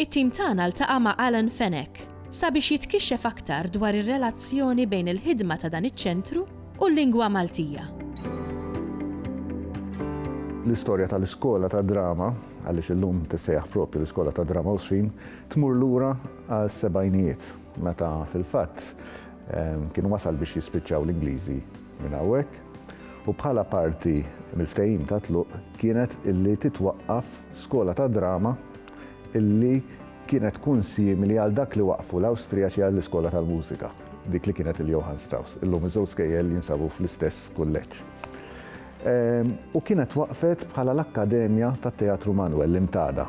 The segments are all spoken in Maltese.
It-tim tagħna ltaqa' ma' Alan Fenech sabiex jitkixxef aktar dwar ir-relazzjoni bejn il-ħidma ta' dan iċ-ċentru u l-lingwa Maltija. L-istorja tal-Iskola tad-Drama, għaliex illum tissejjaħ proprju l-Iskola tad-Drama Għawdxin, tmur lura għas-sebgħinijiet, meta fil-fatt kien wasal biex jispiċċaw l-Ingliżi minn hawnhekk u bħala parti mill-ftehim ta' tluq kienet illi titwaqqaf skola ta' drama illi kienet tkun simili għal dak li waqqfu l-Awstrijaċi għall-iskola tal-mużika, dik li kienet il-Johann Strauss. Illum iż-żewġ skejjel jinsabu fl-istess kulleġġ. Ehm, u kienet waqfet bħala l-Akkademja tat-Teatru Manuel l-Imtada.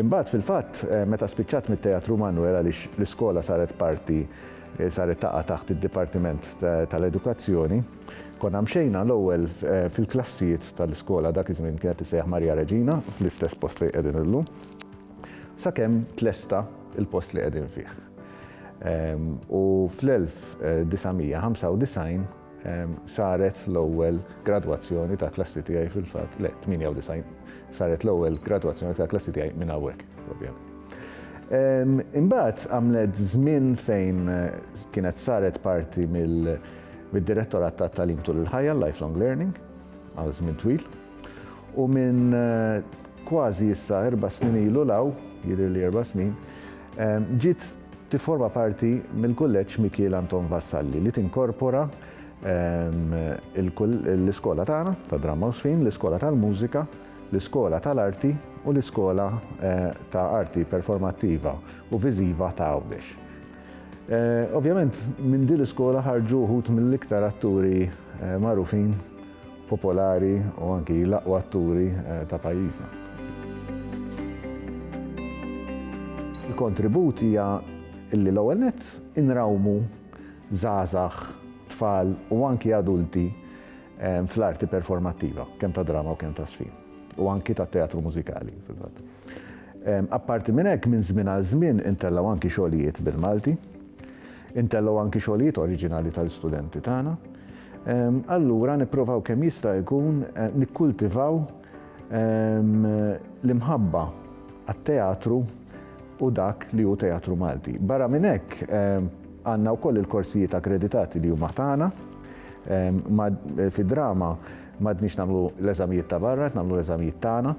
Imbagħad fil-fatt eh, meta spiċċat mit-Teatru Manuel għaliex l-iskola saret parti Saret taqa' taħt id-Dipartiment tal-Edukazzjoni. Konna mxejna l-ewwel fil-klassijiet tal-iskola, dak iż-żmien kienet tissejjaħ Maria Reġina, fl-istess post fejn qegħdin illum, sakemm tlesta l-post li qegħdin fih. U fl-1995, Saret l-ewwel gradwazzjoni tal-klassi tiegħi fil-fatt, le, 98, saret l-ewwel gradwazzjoni tal-klassi tiegħi minn hawnhekk, ovvjament. Imbagħad għamlet żmien fejn kienet saret parti mill-Direttorat tat-Tagħlim tul il-Ħajja, Lifelong Learning, għal żmien twil. U minn kważi issa erba' snin ilu law, jidhirli erba' snin, ġiet Tifforma parti mill-Kulleġġ Mikiel Anton Vassalli li tinkorpora l-iskola tagħna tad-Dramma u Żfin, l-iskola tal-Mużika, l-iskola tal-Arti u l-iskola ta' Arti Performattiva u Viżiva ta' Għawdex. Ovvjament minn din l-iskola ħarġu wħud mill-iktar atturi magħrufin popolari u anki l-aqwa atturi ta' pajjiżna. Il-kontribut hija li l-ewwel nett inrawmu żgħażagħ, tfal u anki adulti fl-arti performattiva, kemm tad-drama u kemm taż-żfin, u anki tat-teatru mużikali fil-fatt. Apparti minn hekk, minn żmien għal żmien intellgħu anki xogħlijiet bil-Malti. Intellgħu anki xogħlijiet oriġinali tal-istudenti tagħna. Allura nipprovaw kemm jista' jkun nikkultivaw l-imħabba għat-teatru u dak li hu teatru Malti. Barra minn hekk, għandna wkoll il-korsijiet akkreditati li huma tagħna. Fid-drama m'għadniex nagħmlu l-eżamijiet ta' barra, qed nagħmlu l-eżamijiet tagħna.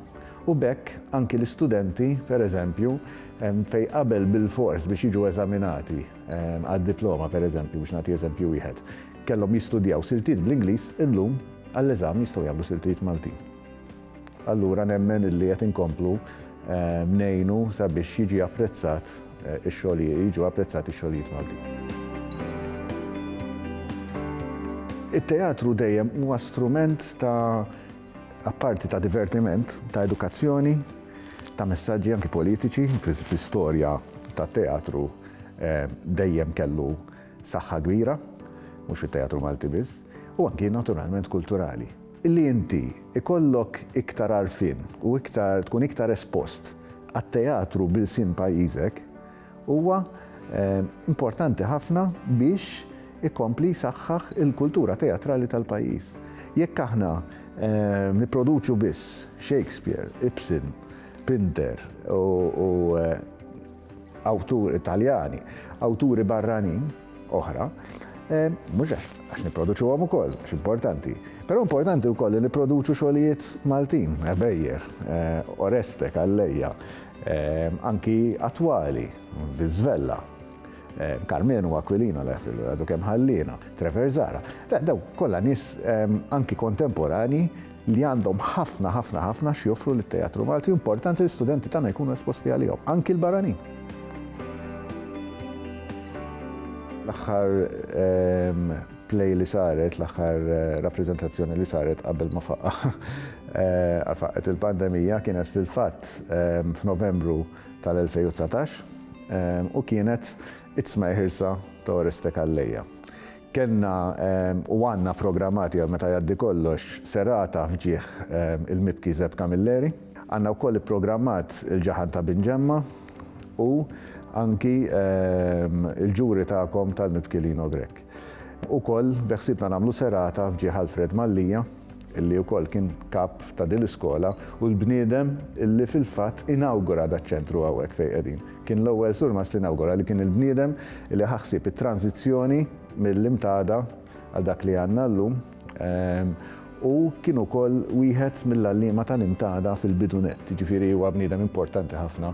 U b'hekk anki l-istudenti, pereżempju, Fejn qabel bilfors biex jiġu eżaminati għad-diploma, pereżempju, biex nagħti eżempju wieħed, kellhom jistudjaw siltiet bl-Ingliż, illum għall-eżami jistgħu jagħmlu siltiet Maltin. Allura nemmen illi qed inkomplu ngħinu sabiex jiġi apprezzat ix-xogħlijiet, jiġu apprezzati x-xogħlijiet Maltin. It-teatru dejjem huwa strument ta' apparti ta' divertiment, ta' edukazzjoni, ta' messaġġi anki politiċi, fl-istorja ta' teatru eh, dejjem kellu saħħa kbira, mhux fit-teatru Malti biss, u anki naturalment kulturali. Illi inti ikollok iktar arfin u iktar tkun iktar espost għat-teatru bil-sin pajjiżek, Huwa importanti ħafna biex ikompli jsaħħaħ il-kultura teatrali tal-pajjiż. Jekk aħna nipproduċu biss Shakespeare, Ibsen, Pinter u awtur Italjani, awturi barranin oħra, Eh, mux għax, għax niproduċu għom ukoll, x'importanti. Pero importanti u koll li niproduċu xolijiet Maltin, Ebejer, eh, Oreste, Kalleja, anki attwali, Viżvella, Karmenu Aquilina li għafilu għadu kemm ħallina, Trevor Zara. Daw kollha nies anki kontemporani li għandhom ħafna ħafna ħafna x'joffru lit-teatru Malti importanti li studenti tagħna jkunu esposti għalihom, anki l-barranin. L-aħħar play li saret, l-aħħar rappreżentazzjoni li saret qabel ma faqqa faqqet il-pandemija kienet fil-fatt f'Novembru tal-2019 u kienet it-tmej ħirsa ta' Oreste Calleja. Kenna u għanna programmati għal meta jaddi kollox serata fġieħ il-mibki Zeb Camilleri. Għanna wkoll ipprogrammat il-ġaħan ta' Bin Ġemma u anki il-ġuri tagħkom tal-mibki Lino Grech. Ukoll beħsiebna nagħmlu serata f'ġieħ Alfred Mallia, li wkoll kien kap ta' din l-iskola u l-bniedem li fil-fatt inawgura daċ-ċentru hawnhekk fejn qegħdin. Kien l-ewwel surmast li nawgura li kien il-bniedem li ħa ħsieb it-tranżizzjoni mill-Imtada għal dak li għandna llum u kien ukoll wieħed mill-għalliema tal-Imtada fil-bidu nett, jiġifieri huwa bniedem importanti ħafna